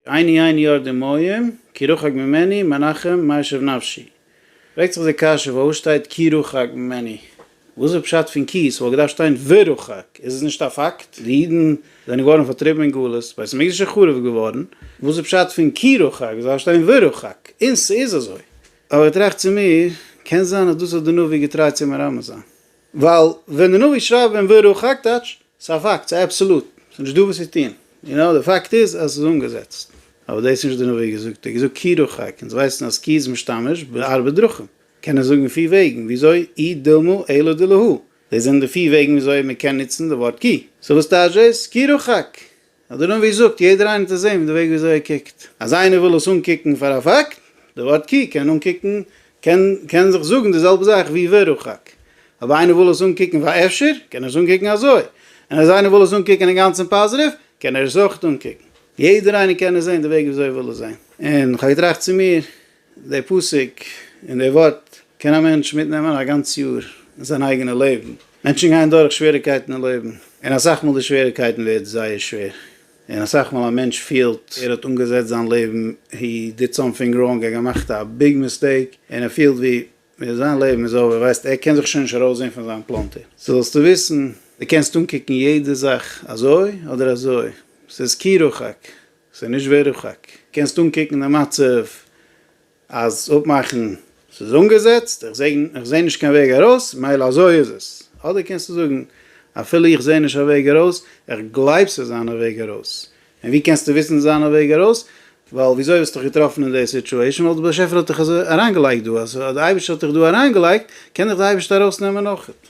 עיני עיני אור דמעים, כי רחק ממני, מנחם, מה ישוב נפשי? פרעגט זיך די קשיא, וואו שטייט כי רחק ממני? וואס איז פשט פון כי? ס'וואלט געדארפט שטיין ורחק, איז עס נישט א פאקט? די אידן זענען געווארן פארטריבן אין גלות, בית המקדש איז חרוב געווארן, וואס איז פשט פון כי רחק? ס'דארף שטיין ורחק, און ס'איז אזוי. אבער איך טראכט צו מיר, קען זיין אז דאס האט די נביא געטרייט צו מרמז זיין, ווייל ווען די נביא שרייבט ווען וירא חק טייטש עס א פאקט ס'איז אבסעלוט ס'נישט דא וואס צו טון יו נאו די פאקט איז אז ס'איז אנגעזעצט אבער דאס איז נישט די נביא געזאגט ער האט געזאגט כי ירא חק אונז ווייסן אז כי איז משתמש בארבע דרכים קען ער זאגן פיר וועגן וויאזוי אי דילמא אלא דלהוא דאס זענען די פיר וועגן וויאזוי מ'קען נוצן די ווארט כי סאו וואס טייטש דאס כי ירא חק? אדער און ווי זאגט יעדער איינער האט עס זעהן פון די וועג ווי אזוי ער קוקט. אז איינער וויל עס אנקוקן פאר א פאקט, די ווארט קוק קען אנקוקן קען קען זיך זאגן די זעלבע זאך ווי ורחק. אויב איינער וויל עס אנקוקן פאר אפשר, קען ער עס אנקוקן אזוי. און אז איינער וויל עס אנקוקן אינגאנצן פאזעטיוו, קען ער עס אויך אנקוקן. יעדער איינער קען עס זעהן די וועג ווי אזוי ער וויל עס זעהן. און כ'האב געטראכט צו מיר, די פסוק און די ווארט קען א מענטש מיטנעמען א גאנץ יאר אין זיין אייגענע לעבן. מענטשן גייען דורך שוועריקייטן אין לעבן, און אסאך מאל די שוועריקייטן ווערט זייער שווער, און אסאך מאל א מענטש פילט ער האט אנגעזעצט זיין לעבן, הי דיד סאמטינג ראנג, ער האט געמאכט א ביג מיסטעיק, און ער פילט ווי זיין לעבן איז אווער, ווייסט ער קען זיך שוין נישט ארויסזען פון זיין פלאנטער. סאו זאלסטו וויסן, די קענסט אנקוקן יעדע זאך אזוי אדער אזוי, ס'איז כי רחק, ס'איז נישט ווערד רחק. קענסט אנקוקן די מצב אז אפמאכן ס'איז אנגעזעצט, איך זעי איך זעי נישט קיין וועג ארויס, מילא אזוי איז עס. אדער קענסטו זאגן, אפילו איך זעי נישט א וועג ארויס, איך גלייב ס'איז אן א וועג ארויס. און ווי קענסטו וויסן ס'איז אן א וועג ארויס? ווייל וויאזוי האסט דיך געטראפן אין די סיטועשן? ווייל די באשעפער האט דיך אזוי אריינגעלייגט דא. אז די אייבערשטער האט דיך דא אריינגעלייגט, קען דיך די אייבערשטער ארויסנעמען אויכעט.